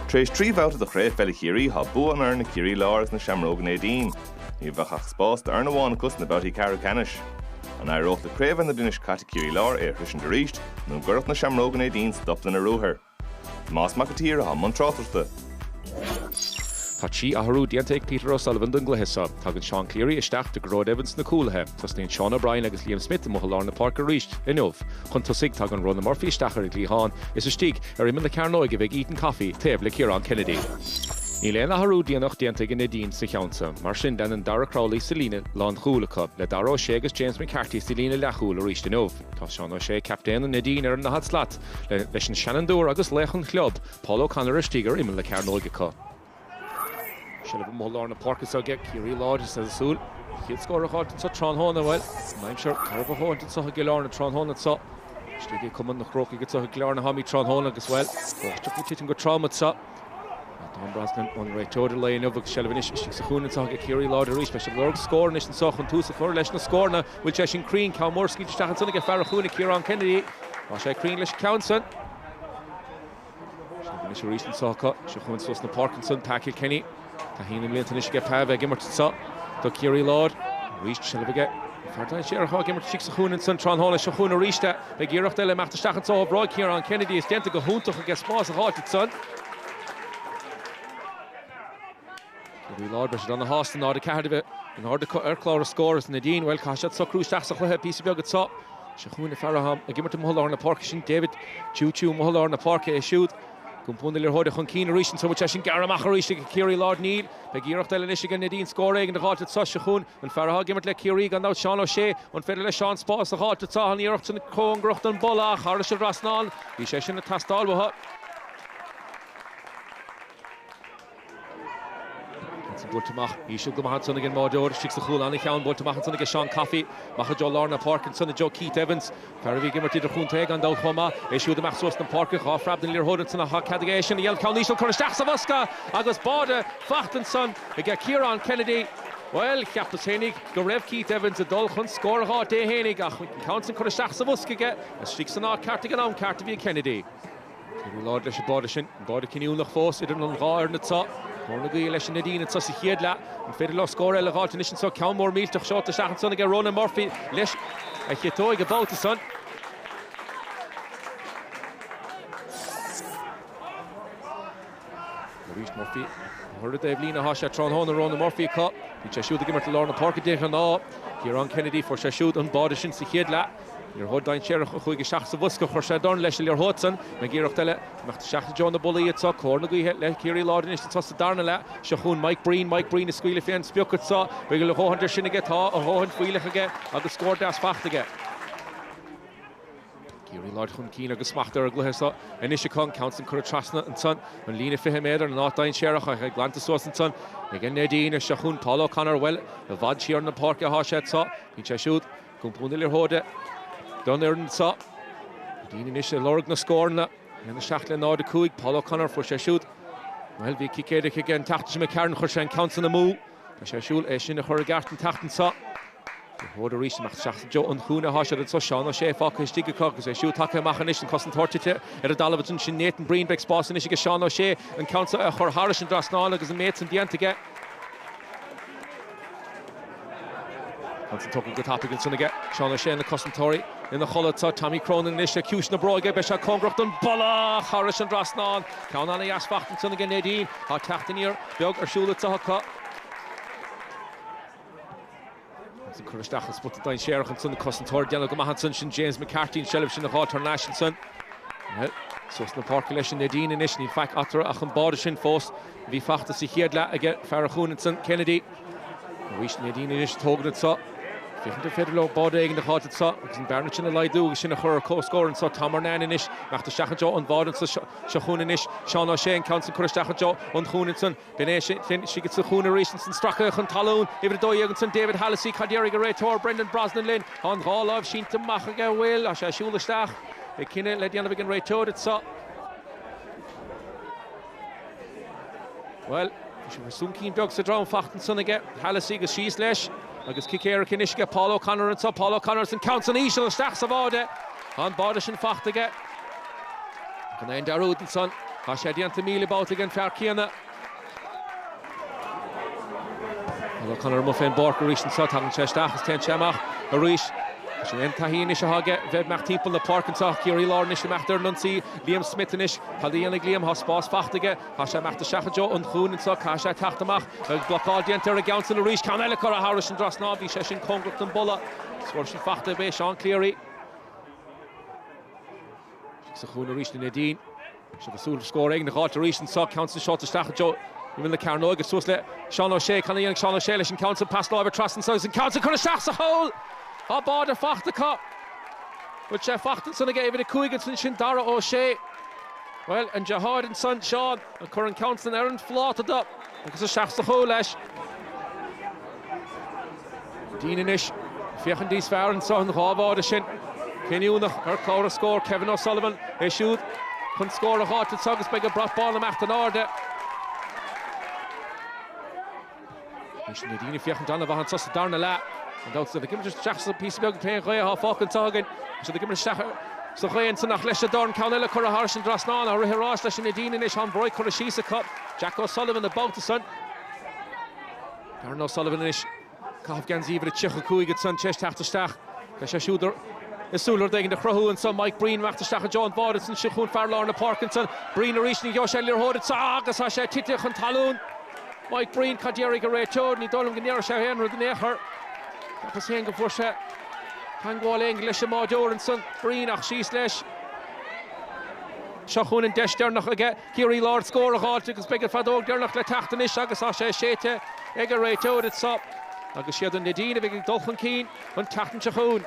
Tar éis trí bhabhta de Chraobh Peile Chiarraí, thá bua an fhoireann ag Ciarraí Láir agus na Seamróga Neidín. Ní bheadh ach spás d'fhoireann amháin acu sna babhtaí ceathrú ceannais. An éireodh le Craobh na bliana seo caite Ciarraí Láir é a shroisint arís nó an gcuirfeadh na Seamróga Neidín stop lena ruathair? Tomás Mac a tSaoir athá i mbun tráchtaireachta. Tá trí athrú déanta ag Peter O'Sullivan don gcluiche seo. Tagann Seán Cleary isteach do Gearóid Evans sna cúlaithe. Tosnaíonn Sean O'Brien agus Liam Smith amuigh i lár na páirce arís inniu. Chun tosaigh tagann Ronan Murphy isteach ar an gcliathán. Is istigh, ar imeall na cearnóige a bheidh Ethan Coffey, taobh le Ciarán Kennedy. Níl aon athrú déanach déanta ag an Neidín sa cheann so. Mar sin fanann Darragh Crowley sa líne lánchúil acu, le Dara Ó Sé agus James McCarthy sa líne leathchúil arís inniu. Tá Seán O'Shea, captaen an Neidín, ar an ndaichead slat, leis an seanfhondúir agus laoch an chlub, Paul O'Connor istigh ar imeall na cearnóige acu. Seilbh amuigh i lár na páirce anseo aige Ciarraí Láir is iad ag súil. An chéad scór a dh'fháilt anseo tráthnóna, bhuel, an aimsir garbh a dh'fháilt anseo i gCill Airne tráthnóna anseo. Istigh ag Cumann na Crócaigh anseo i gCill Airne atáimid tráthnóna agus, bhuel, báisteach ag titim go trom anseo. Tá Tom Brosnan, an réiteoir an lae inniu agus seilbh anois istigh sa chúinne anseo aige Ciarraí Láir arís. Beidh siad ag lorg scór anois anseo chun tús a chur leis na scóranna. An bhfuil sé sin cruinn, ceann mór scaoilte isteach ansan aige, fear an chúinne, Ciarán Kennedy. Tá sé cruinn leis an gceann san. Seilbh anois arís anseo acu. Seo chugainn suas an pháirc ansan Patrick Kenny. Taithí na mblianta anois aige Pav ag imirt anseo do Ciarraí Láir. Arís seilbh aige. An fear dainséarach atá ag imirt istigh sa chúinne ansan tráthnóna. Seo chugainn arís é. Beidh iarracht eile imeacht isteach anseo ó Bhráid Kieran Kennedy. Is déanta go hiontach aige spás a dh'fháilt ansan. Ciarraí Láir, Breiseadán na hÁsta, 0-4 a bheith in ord ar chlár an scóir. Is Neidín, bhuel, caithfidh siad socrú isteach sa chluiche píosa beag anseo. Seo chughainn an fear atá ag imirt amuigh i lár na páirce, sin David, tiú tiú amuigh i lár na páirce, é siúd ag iompar na liathróide chun cinn arís ansan, tá sé sin gearrtha amach arís ag Ciarraí Láir, níl. Beidh iarracht eile anois ag Neidín scór éigin a dh'fháilt anseo. Seo chughainn an fear atá ag imirt le Ciarraí, gan dabht, Seán Ó Sé, an féidir le Seán spás a dh'fháilt anseo? An iarracht sin cóngarach don bpolla ach thairis an trasnán, bhí sé sin ag teastáil uathu. Ansin buailte amach, íseal go maith ansan ag an mbáireoir istigh sa chúl, an-cheann buailte amach ansan ag Seán Coffey, amach i dtreo lár na páirce ansan i dtreo Keith Evans, fear a bhí ag imirt idirchontae gan dabht chomh maith, é siúd ag imeacht suas an pháirc, dhá phreab don liathróid ansan ach tá cead aige é sin a dhéanamh, ceann íseal curtha isteach sa bhosca agus báide faighte ansan ag Kieran Kennedy, bhuel, cheapas fhéinig go raibh Keith Evans ag dul chun scóir dhó fhéinig ach an ceann sin curtha isteach sa bhosca aige, istigh san áit ceart ag an am ceart a bhí ag Kennedy. Ciarraí Láir leis an mbáide sin, an báide cinniúnach fós idir an dhá fhoireann anseo. Cóir na gaoithe leis an Neidín anseo sa chéad leath. An féidir leo scór eile a dh'fháilt anois anseo? Ceann mór millteach seolta isteach ansan aige Ronan Murphy leis a chiotóig an babhta san. Arís Murphy thar an dtaobhlíne thá sé tráthnóna, Ronan Murphy, acu. Bíonn sé siúd ag imirt i lár na páirce de ghnáth. Ciarán Kennedy, fuair sé siúd an báide sin sa chéad leath. Liathróid dhainséarach a chuaigh isteach sa bhosca a chuir sé dorn leis an liathróid san. Beidh iarracht eile. Imeacht isteach i dtreo na bpollaí anso. Cóir na gaoithe le Ciarraí Láir anois anseo sa darna leath. Seo chugainn Mike Breen. Mike Breen ag scaoileadh fé an sprioc anso. Beidh a dhóthain de sin aige. Tá a dhóthain fuílleach aige agus scór deas faighte aige. Ciarraí Láir chun cinn agus smacht ar an gcluiche seo anois acu. An ceann san curtha trasna ansan an líne fiche méadar in áit dainséarach. Tá sé glanta suas ansan ag an Neidín. Seo chugainn Paul O'Connor. Bhuel, i bhfad siar na páirce athá sé anso. Bíonn sé siúd. Ag iompar na liathróide don fhoireann seo. Neidín anois ag lorg na scóranna. 1, 7 le 0, 5. Paul O'Connor, fuair sé siúd. Bhuel, bhí cic éirice aige an tseachtain seo imigh tharainn, chuir sé an ceann san amú. Tá sé ag súil é sin a chur i gceart an tseachtain seo. Liathróid arís ag imeacht isteach i dtreo an chúinne atá siad anseo. Seán Ó Sé fágtha istigh acu agus é siúd tagtha amach anois. An cosantóir tite ar an dtalamh is ansin Nathan Breen. Beidh spás anois aige Seán Ó Sé an ceann seo a chur thairis an dtrasnán agus an méid san déanta aige. Ceann san tógtha go tapaidh ansin age Seán Ó Sé, na cosantóirí ina chodladh. Tá Tommy Cronin anois ar chiúis na bróige, beidh sé cóngarach don bpolla! Thairis an dtrasnán! Ceann an-deas fachta ansin age Neidín. Tá teacht aniar beag ar siúl anso acu. Ceann san curtha isteach i spota dainséarach ansin, na cosantóirí ag déanamh go maith ansin. Sin James McCarthy an tseilbh sin a dh'fháilt thar n-ais ansin. Bhuel, suas an pháirc leis an Neidín anois, níl faic eatarthu ach an báide sin fós. Bhí fachta sa chéad leath age fear an chúinne ansan, Kennedy. Arís Neidín anois ag tógaint anso. Féachaint an féidir leo báide éigin a dh'fháilt anso agus an bhearna sin a laghdú agus sinn a chur ar comhscór anso. Tom Murnane anois imeacht isteach i dtreo an bháide anso seo chúinn anois. Seán Ó Sé an ceann san curtha isteach i dtreo an chúinne ansan. B'in é sin. Istigh sa chúinne arís ansan stracaithe chun talún, uimhir a dó dhéag ansan, David Hallissey. Cad déarfaidh an réiteoir, Brendan Brosnan linn? Tá an dhá láimh sínte amach aige, an bhfuil? Tá sé ag siúl isteach. Beidh cinneadh le déanamh ag an réiteoir anso. Bhuel, bhí sé mar soncín beag sa drom fachta ansan age Hallissey, agus síos leis agus cic éirice anois age Paul O'Connor anseo, Paul O'Connor is an ceann san íseal, isteach sa bháide, tá an báide sin fachta aige, gan aon dearúd ansan, tá sé déanta míle babhta aige an fear céanna. Bhuel, O'Connor amuigh fén bpáirc arís anseo, tagann sé isteach is téann sé amach arís. Sin é an taithí anois atá aige bheith ag imeacht timpeall na páirce anseo. Ciarraí Láir anois ag imeacht ar an ionsaí, Liam Smith anois. Cad a dhéanfaidh Liam? Tá spás fachta aige, tá sé ag imeacht isteach i dtreo an chúinne anseo, caithfidh sé teacht amach. Beidh blocáil déanta ar an gceann san arís, ceann eile curtha thairis an dtrasnán, bhí sé sin cóngarach don bpolla. Scór sin fachta age Seán Cleary. Seo chúinn arís an Neidín. Is iad ag súil scór éigin a dh'fháilt arís anso, ceann san seolta isteach i dtreo imeall na cearnóige. Suas le Seán Ó Sé. Cad a dhéanfaidh Seán Ó Sé leis an gceann san? Pas láimhe trasna anso agus an ceann san curtha isteach sa pholl! Tá báide fachta acu. Báide fachta ansan age uimhir a cúig ansan, sin Dara Ó Sé. Bhuel, an deartháir ansan, Seán, a chuir an ceann san ar an phláta dó agus isteach sa pholl leis. Dean anois féachaint níos fearr anseo, an dhá bháide sin. Cinniúnach ar chlár na scór, Kevin O'Sullivan, é siúd chun scór a dh'fháilt anseo agus beidh an brat bán ag imeacht in airde. An Neidín ag féachaint an-mhaith anseo sa darna leath. Gan dabht, iad ag imirt isteach sa bpíosa beag féin ghaoth atá fágtha anseo againn. Tá siad ag imirt isteach sa ghaoth anseo ach leis an dorn ceann eile curtha thairis an trasnán, ar aghaidh arís leis an Neidín anois, tá an bhróg curtha síos acu. Jack O'Sullivan, buaite ansan. Darran O'Sullivan anois. Ag caitheamh geansaí uimhir a 35 ansan théis teacht isteach. Beidh sé siúd ag súil le rud éigin a chruthú anseo. Mike Breen ag teacht isteach i dtreo an báire. Is anseo chugainn fear lár na páirce ansan. Breen arís. Ní gheobhaidh sé an liathróid anseo agus tá sé tite chun talún. Mike Breen, cad déarfaidh an réiteoir? Ní dóigh liom go ndéarfaidh sé aon rud in aon chor. Cheapas féin go bhfuair sé teagmháil éigin leis an mbáireoir ansan. Breen, ach síos leis. Seo chugainn an deis deireanach aige. Ciarraí Láir scór a dh'fháilt agus beidh an feadóg deireanach le teacht anois agus tá sé séidte ag an réiteoir anseo agus 'siad an Neidín a bheidh ag dul chun cinn an tseachtain seo chugainn.